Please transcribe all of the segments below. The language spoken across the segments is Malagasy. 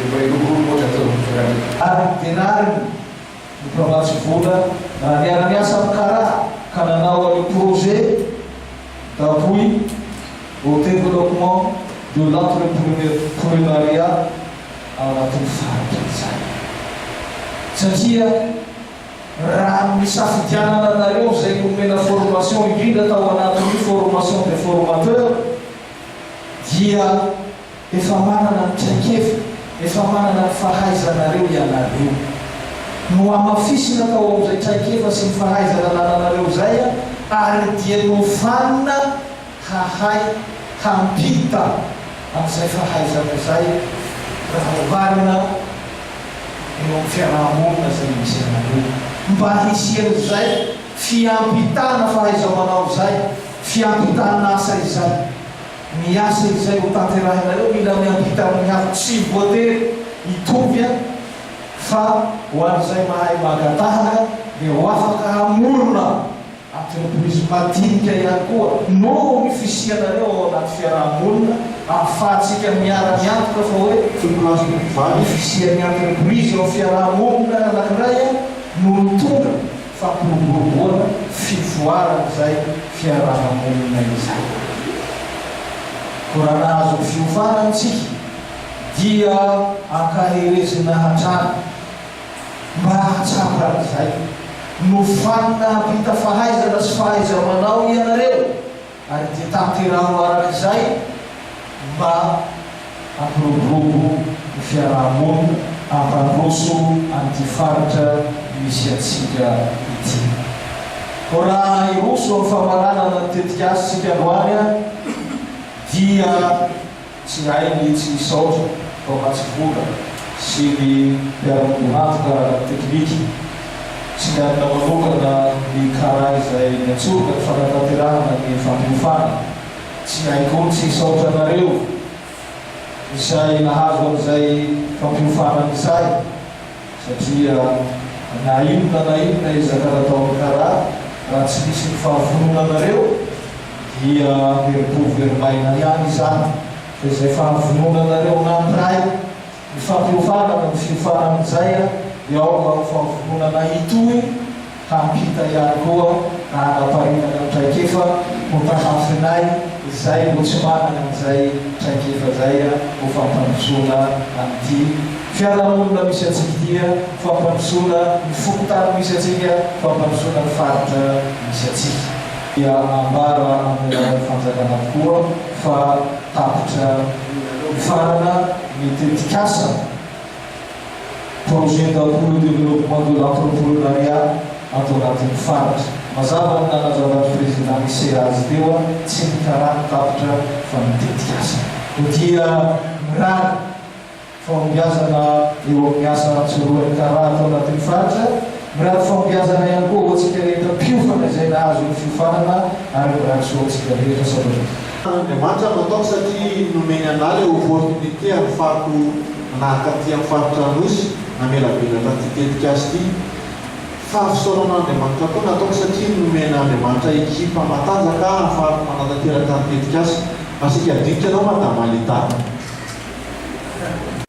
dia mba hiloko ny mody ataon'ny mpiray. Ary ny denariny no mpamatsy vola raha niara-niasa amin'ny karaha ka nanao an'io projet d'appui au développement de l'entrepreneuriat ao anatin'ny faritra izany. Satria raha ny nisafidianana anareo izay nomena formation indrindra tao anatin'io formation des formateurs dia. Efa manana ny traikefa, efa manana ny fahaizanareo ianareo. Nohamafisina tao amin'izay traikefa sy ny fahaizana nananareo izay ary dia nofanina hahay hampita an'izay fahaizana izay raha oharina eo amin'ny fiaraha-monina izay misy anareo. Mba hisian'izay fiampitana fahaiza-manao izay, fiampitana asa izay. Ny asa izay hotanterahinareo mila miampita amin'ny hafa, tsy voatery hitovy an, fa ho an'izay mahay maka tahaka dia ho afaka hamorona entreprise madinika ihany koa noho ny fisianareo ao anaty fiaraha-monina ahafahantsika miara-miantoka fa hoe ny fisian'ny entreprise ao fiaraha-monina anankiray no mitondra fampiroboroboana fivoaran'izay fiaraha-monina izay. Koa raha nahazo fiofana isika dia ankaherezina hatrany mba hahatsapa an'izay. Nofanina hampita fahaizana sy fahaiza-manao ianareo Ary dia tanteraho araka izay mba hampiroborobo ny fiaraha-monina, hampandroso an'ity faritra misy antsika ity. Koa raha hiroso amin'ny famaranana ny tetikasontsika androany aho dia. Tsy hay mihitsy misaotra Mpamatsimbona sy ny mpiara-midohady ara-teknika. Tsy miadana manokana ny kara izay niantsoana ny fanatanterahana ny fampiofana. Tsy hay koa tsy hisaotra anareo izay nahazo an'izay fampiofana ny sary. Satria na inona na inona ezaka nataon'ny kara, raha tsy misy ny fahavononanareo dia very po very maina ihany izany. Fa izay fahavononanareo nampiray ny fampiofanana ny fiofanan'ny Jaya dia ao mba ho fahavononanay hitohy, Hampita ihany koa na hanaparitaka ny traikefa ho tahafinay izay mbo tsy manana an'izay traikefa izay ho fampandrosoana an'ity fiarahamonina misy antsika ity, fampandrosoana ny fokontany misy antsika, fampandrosoana ny faritra misy antsika. Dia ambara amin'ny alalan'ny fanjakana avokoa fa tapitra nifarana ny tetikasa. Projet d'Appuie au Développement de l'Entrepreneuriat ato anatin'ny Faritra. Mazava ny nanazavan'ny Président Micé azy teo an, tsy ny karany tapitra fa ny tetikasa. Koa dia mirary fahombiazana eo amin'ny asa antsorohan'ny kara ato anatin'ny Faritra. Mirary fahombiazana ihany koa ho antsika rehetra mpiofana izay nahazo ny fiofanana ary mirary soa ho antsika rehetra. Sabatra. Fa Andriamanitra no ataoko satria nomeny anah ilay opportunité hahafahako manahaka an'ity amin'ny faritra Anosy namela velatra an'ity tetikasa ity. Fa fisaoran'Andriamanitra koa no ataoko satria nomen'Andriamanitra ekipa matanjaka hahafahako manatanteraka ny tetikasa. Masika dinika anao Madama Lita.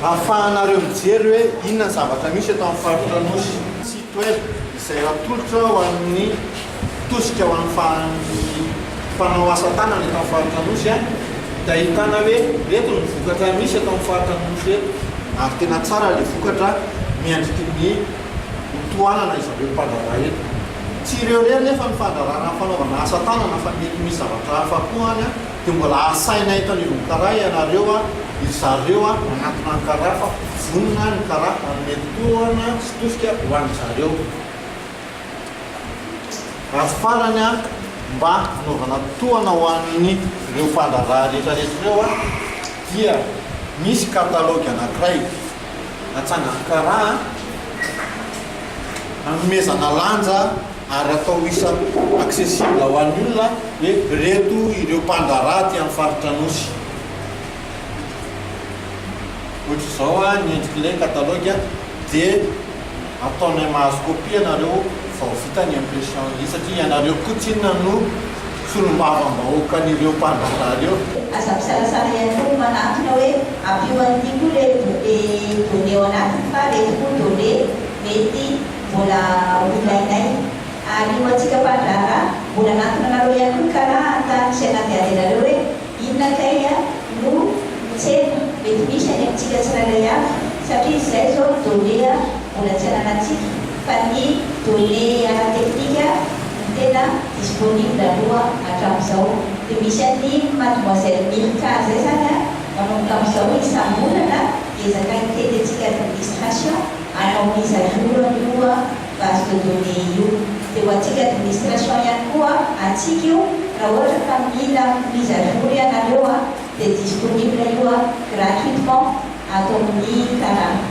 Ahafahanareo mijery hoe inona ny zavatra misy eto amin'ny faritra Anosy. Site web izay atolotra ho an'ny tosika ho an'ny mpanao asa tanana eto amin'ny faritra Anosy dia ahitana hoe ireto ny vokatra misy eto amin'ny faritra Anosy eto ary tena tsara ilay vokatra miandriky ny ho tohanana izareo mpandraharaha eto. Tsy ireo irery nefa ny fandraharahana ny fanaovana asa tanana fa mety misy zavatra hafa koa any an! Dia mbola asaina eto anivon'ny karaha ianareo a, ry zareo a, manatona ny karaha fa vonona ny karaha hanome tohana sy tosika ho an-dry zareo. Ary farany a, mba hanaovana tohana ho an'ireo mpandraharaha rehetrarehetra ireo a, dia misy catalogue anankiray natsangan'ny karaha hanomezana lanja, ary atao isa accessible ho an'ny olona hoe ireto ireo mpandraharaha aty amin'ny faritra Anosy. Ohatr'izao ny endrik'ilay catalogue dia ataonay mahazo copie ianareo vao vita ny impression ny satria ianareo koa tsinona no solombavambahoakan'ireo mpandraharaha ireo. Aza misalasala ihany koa ny manantona hoe ampio an'ity koa ireto be données ao anatiny fa ireto koa données mety Mbola ho ilainay. Ary ho antsika mpandraharaha, mbola hanantona anareo ihany koa ny karaha an-tany sy anaty harenareo hoe, Inona kay no tsena mety misy any amintsika tsirairay avy? Satria izay izao no données mbola tsy ananantsika, fa ny données techniques no tena disponible aloha hatramin'izao. Dia misy an'i Mademoiselle Mirka izay izany manomboka amin'izao isam-bolana hiezaka hitety antsika administration, ary amin'izay volana io koa base de données io dia ho antsika administration ihany koa antsika io raha ohatra ka mila mise à jour ianareo dia disponible io gratuitement ato amin'ny Taratra.